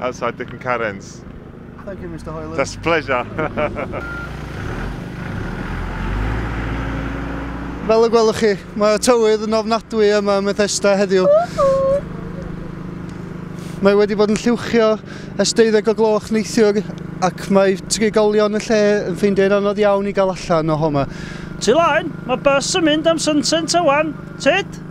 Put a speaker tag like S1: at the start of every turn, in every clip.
S1: Outside Dick and Karen's. Thank you, Mr
S2: Hoyland. That's a pleasure. Fel y gwelwch chi, mae tywydd yn ofnadwy yma yn Methesda heddiw. Mae wedi bod yn lliwchio ers 12 o gloch neithiwr ac mae trigolion y lle yn ffeindio'n anodd iawn i gael allan o homa. Ti laen,
S3: mae bus yn mynd am Sunset awan. Tit?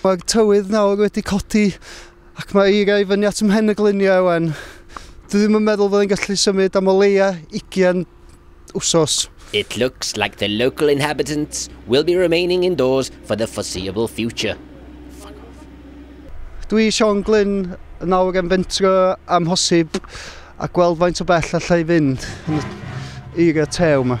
S2: Mae'r tywydd nawr wedi codi ac mae eira i fyny at ym mhen y gluniau ewan. Dwi ddim yn meddwl fydden gallu symud am o leia 20 wsos. It looks
S4: like the local inhabitants will be remaining indoors for the foreseeable future. Fuck off.
S2: Dwi i Sean Glyn yn nawr yn fentro am hosib a gweld faint o bell allai fynd yn y eira tew yma.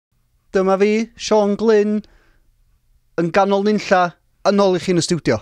S2: Dyma fi, Siôn Glyn, yn ganol nunlla, yn ôl i chi yn y stiwdio.